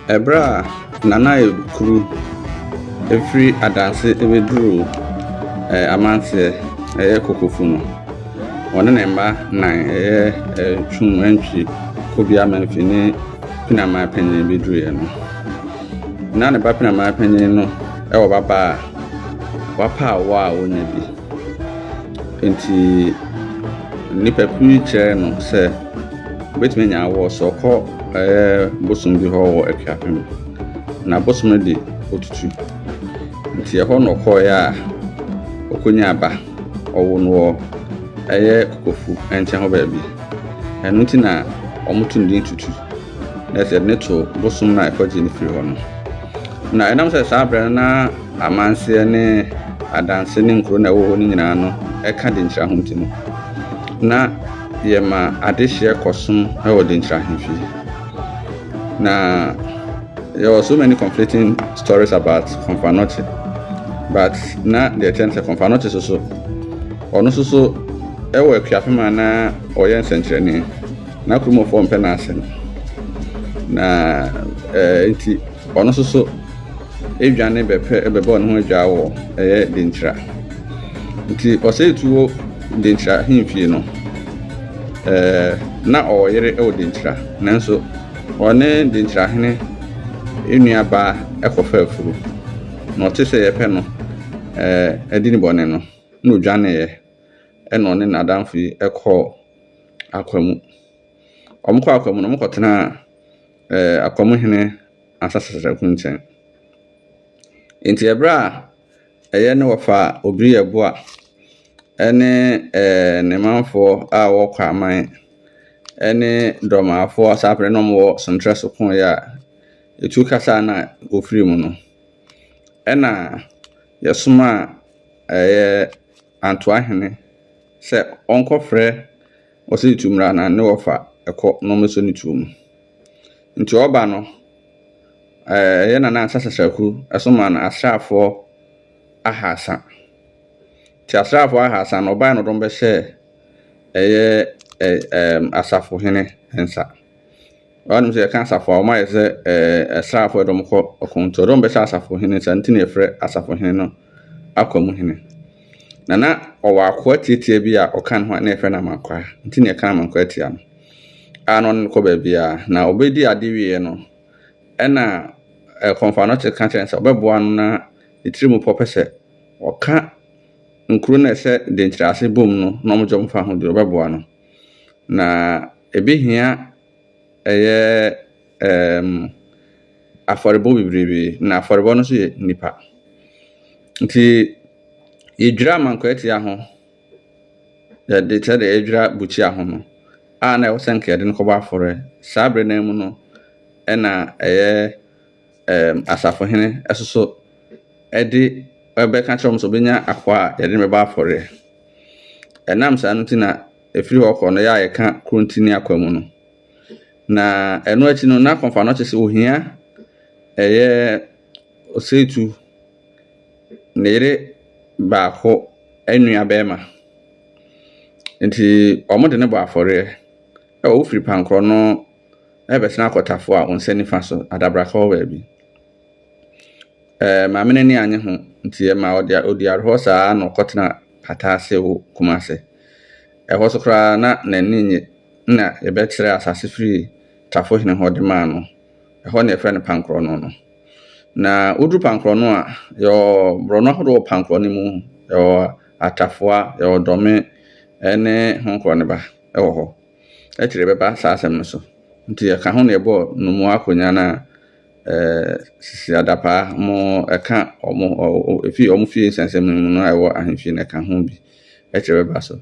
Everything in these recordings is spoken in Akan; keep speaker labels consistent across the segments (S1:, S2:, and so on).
S1: Ɛberɛ a Nana Ayo Kuru firi adanse bɛduruu Amanteɛ, ɛyɛ Kokofu no, ɔne ne mma nnan, ɛyɛ Twum Antwi, Kobia Memphi ne Penaman Panyin bɛduruiɛ no, na ne ba Penaman Panyin no wɔ babaa a wapa awoɔ a ɔnnya bi. Enti nnipa pii kyerɛɛ no sɛ. Wobɛtumi anya awɔ sɛ ɔkɔ ɛyɛ bosom bi hɔ wɔ Akuapem na bosom no de ɔtutu nti ɛhɔ na ɔkɔeɛ a ɔkɔnya aba ɔwo no wɔ ɛyɛ kokofu nkyɛn hɔ baabi ɛno nti na wɔto ne din tutu na ɛsɛ ne to bosom no a ɛkɔgye ne firi hɔ no na ɛnam sɛ saa berɛ no na amanseɛ ne adanse ne nkuro na ɛwɔ hɔ no nyinaa no ɛka de nkyira ho nti no na Yɛma adehyeɛ kɔsom wɔ Denkyira Ahemfie. Na yɛwɔ so many conflicting stories about Komfo-Anokye. But na deɛ ɛkyerɛ no sɛ Komfo-Anokye so so, ɔno nso so wɔ akuafe ma na ɔyɛ nsɛnkyerɛnne. Na Kuromɔfoɔ mpɛ n'asɛm. Na ɛɛ nti. Ɔno nso so dwane bɛpɛ bɛbɔ ne ho adwaa wɔ ɛyɛ Denkyira. Nti ɔsɛ tu wɔ Denkyira ahemfie no. Ɛɛ, na ɔwɔ yere wɔ Denkyira, nanso ɔne Denkyira hene nua baa kɔfa afuru, na ɔte sɛ yɛpɛ no ɛɛ adi ne bɔne no, na ɔdwaneeɛ, ɛna ɔne n'adamfo yi kɔɔ akwa mu. Wɔkɔɔ akwa mu no, wɔkɔtenaa ɛɛ Akɔm hene Asasasa Kunkyɛn. Enti ɛberɛ a ɛyɛ ne wɔfaa Obiri Yeboah ɛne ɛɛ ne manfoɔ a wɔwɔ Kwaman ɛne Dormaafoɔ Asaapere na wɔwɔ Sontrɛ so koeɛ a, etuo kasa a na wɔfiri mu no, ɛna yɛsomaa ɛyɛ Antoa hene sɛ ɔnkɔfrɛ Wɔsɛ etu mmra na ne wɔfa ɛkɔ na wɔn sɛ ne tuo mu. Nti ɔba no, ɛɛ yɛ nana nsa sasraku ɛso maa no asraafoɔ ahaasa. Nti asraafoɔ ahaasa no ɔbae no dɔm bɛhyɛ ɛyɛ ɛɛ ɛɛm asafohene nsa. Woanom sɛ yɛka asafo a, wɔayɛ sɛ asraafo a ɛde wɔn kɔ ɔko nti, wɔde wɔn bɛhyɛ asafo hene, saa nti na yɛfrɛ asafo hene no akwa mu hene. Na na ɔwɔ akoa tiatia bi a ɔka ne ho a na yɛfrɛ no amankwaa, nti na yɛka amankwaa tia no, a na ɔne no kɔ baabiara. Na ɔbɛdi ade wieɛ no, ɛna kɔmfanɔkye ka kyerɛ no sɛ ɔbɛboa no na ne tiri mu pɔ pɛ sɛ ɔka nkuro no a ɛhyɛ denkyerɛ ase bom no na wɔgye wɔn fa ho deɛ ɔbɛboa no. Na ebehia ɛyɛ ɛɛm afɔrebɔ bebrebe, na afɔrebɔ no nso yɛ nnipa. Nti yedwira amankwaatia ho, yɛde te sɛ deɛ yedwira bukyia ho no a na ɛwɔ sɛ nka yɛde no kɔbɔ afɔre. Saa bere no ara mu no na ɛyɛ. asafohene soso de rebɛka akyerɛ wɔn sɛ wɔbɛnya akoa a wɔde no bɛbɔ afɔreɛ. Ɛnam saa no nti na ɛfiri hɔ kɔ no, yɛ a yɛka Kurontini akoa mu no. Na ɛno akyi no, na kɔmfa no kyerɛ sɛ ohia ɛyɛ osetu ne yere baako nua bɛrima. Nti wɔde no bɔ afɔreɛ. Ɛwɔ wofiri Pankorɔ no. na yɛbɛsan akɔ Tafo a, wo nsa nifa so, adabraka hɔ baabi. Ɛɛ, maame no ani anye ho, nti ɛma ɔde ɔdi awerɛhɔ saa ara na ɔkɔtena pata ase wo Kumase. Ɛhɔ so koraa na n'ani nnye na yɛbɛkyerɛ asase firi Tafo hene hɔ de maa no. Ɛhɔ na yɛfrɛ no Pankorɔno no. Na woduru Pankorɔno a, yɛwɔ borɔno ahodoɔ wɔ Pankorɔno mu, yɛwɔ Atafoa, yɛwɔ Dɔme ne Honkorɔ ne ba wɔ hɔ. akyiri bɛba saa asɛm no so. Nti yɛka ho na yɛbɔɔ Nnomoa Akonya no a ɛɛ sisi adapaa mo ɛka ɔmo ɔ efi ɔmo fie nsɛnsɛm no mu no a ɛwɔ ahemfie no ɛka ho bi akyiri bɛba so.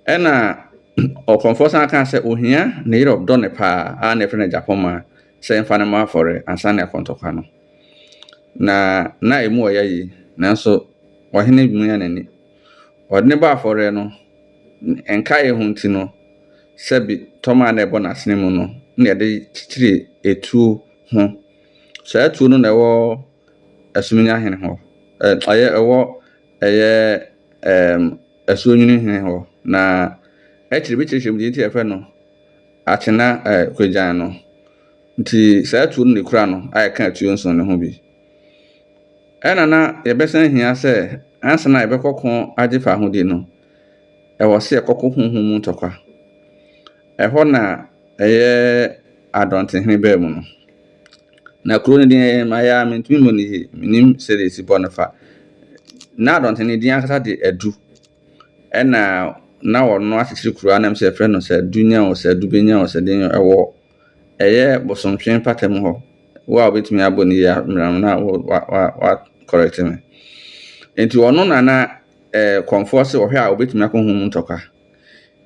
S1: Ɛna ɔkɔmfoɔ san kaa sɛ ohia ne yere ɔdɔ ne paa a na ɛfrɛ no Agyapɔmma sɛ ɛmfa no mmɔ afɔre ansa ne akɔntɔkwa no. Na na emu ɔya yie nanso ɔhene mia n'ani. Ɔde no bɔ afɔreɛ no, ne nkaeɛ ho nti no, sɛbi tɔma a na ɛbɔ n'asene mu no na yɛde kyekyere etuo ho. Saa tuo no na ɛwɔ Asuminya hene hɔ, ɛyɛ ɛwɔ ɛyɛ ɛɛm Asuonyini hene hɔ na akyire bi kyerɛkyerɛ mu deɛ nti yɛfrɛ no Akyena ɛɛ Kwagyan no. Nti saa tuo no na ekura no a yɛka atuo nson no ho bi. Ɛna na yɛbɛsan ahia sɛ ansa na yɛbɛkɔ ko agye fahodie no, ɛwɔ sɛ yɛkɔko honhom mu ntɔkwa. Ɛhɔ na ɛyɛ adɔntehene baa mu no. Na kuro no din ɛyɛ mayɛ a mentumi mmɔ no yie, menim sɛdeɛ ɛsi bɔ no fa. Na adɔnten no din ankasa de adu. Ɛna na wɔno akyekyere kuro anam sɛ yɛfrɛ no sɛ adu nya o, sɛ adu bɛnya o, sɛ den ɛwɔ Ɛyɛ bosomtwe mpata mu hɔ. Wo a wobɛtumi abɔ ne yie a, mmerɛ no na wo wa wa wa correct me. Nti ɔno na na eh, kɔnfoɔ se ɔhwɛ a obɛtumi akɔ ho mu ntɔkwa.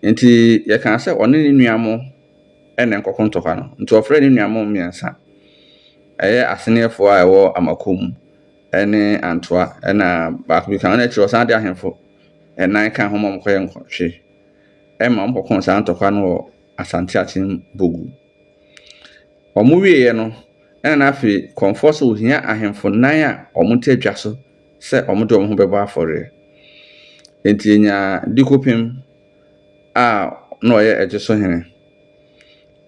S1: Nti yɛkaa sɛ ɔne ne nua mo ɛna nkɔko ntɔkwa no. Nti ɔfrɛ ne nua mo mmiɛnsa. Ɛyɛ aseneɛfoɔ a ɛwɔ Amako mu ɛne Antoa ɛna baako bi ka ho. Ɛna akyiri ɔsan de ahemfo ɛnan ka ho ma wɔkɔyɛ nkɔtwe ɛma wɔkɔko saa ntɔkwa no wɔ Asante Akyem Bogu. Wɔwieeɛ no, ɛna na afei Kɔmfoɔ sɛ ɔhia ahemfo nnan a wɔte adwa so sɛ wɔde wɔn ho bɛbɔ afɔreɛ. Enti yɛnyaa Dikopem a na ɔyɛ Ɛgye so hene.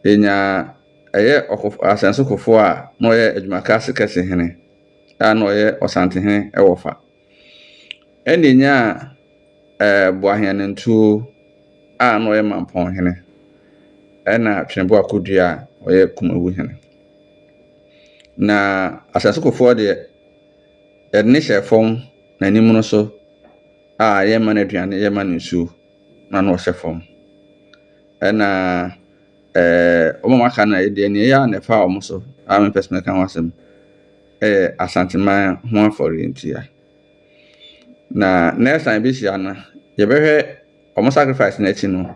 S1: Yɛnyaa ɛyɛ Asɛnso Kofoɔ a na ɔyɛ Adwumakase Kɛse hene a na ɔyɛ Ɔsantehene wɔ fa. Ɛnna enyaa ɛɛ Boaheanantuo a na ɔyɛ Mampɔnhene, ɛnna Tweneboa Kodua a ɔyɛ Kumawuhene. Na Asasekofoɔ deɛ, yɛde no hyɛɛ fam, n'anim no so a yɛrema no aduane, yɛrema no nsuo, na na ɔhyɛ fam. Ɛnna ɛɛ wɔn a wɔaka no deɛ, deɛ ɛyɛ a na ɛfa wɔn so a mempɛ sɛ mɛka ho asɛm. yɛ Asanteman ho afɔre nti a, na next time yɛbɛhyia no, yɛbɛhwɛ wɔn sacrifice no akyi no,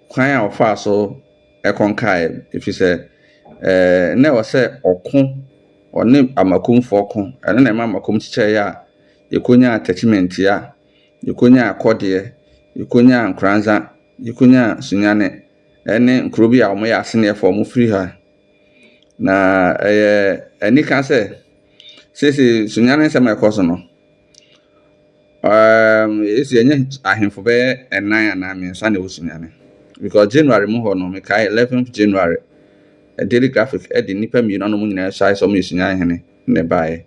S1: kwan a wɔfaa so kɔnkaeɛ, ɛfiri sɛ eh, na ɛwɔ sɛ ɔko, ɔne amakomfoɔ ko, ɛno na ɛma amakom kyekyɛeɛ a yɛkɔnyaa attachment a yɛkɔnyaa kɔdeɛ, yɛkɔnyaa nkoranza, yɛkɔnyaa sunyane, ɛne nkuro bi a wɔyɛ aseneɛfoɔ a wɔfiri ha Na ɛyɛ anika sɛ, seesei sunyane nsɛm a ɛkɔ so no, um, esi ɛnyɛ ahemfo bɛyɛ ɛnan anaa mmiɛnsa na ɛwɔ sunyane. Because January mu hɔ no, mekae 11th January, eh, Daily Graphic de nnipa mmienu anom nyinaa suae sɛ wɔyɛ sunyane hene na ɛbaeɛ.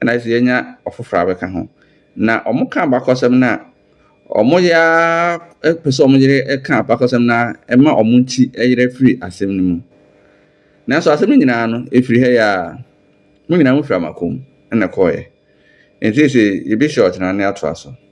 S1: Ɛna ɛsɛ yɛnya ɔfoforɔ a bɛka ho. Na wɔka abakɔsɛm no a Wɔyɛ ara pɛ sɛ wɔyere ka abakɔsɛm no ara ɛma wɔn nti yera firi asɛm no mu. Nanso asɛm no nyinaa no, ɛfiri ha yi ara. Mo nyinaa mofiri Amakom na ɛkɔeɛ. Enti seesei yɛbɛhyia ɔkyena na yɛatoa so.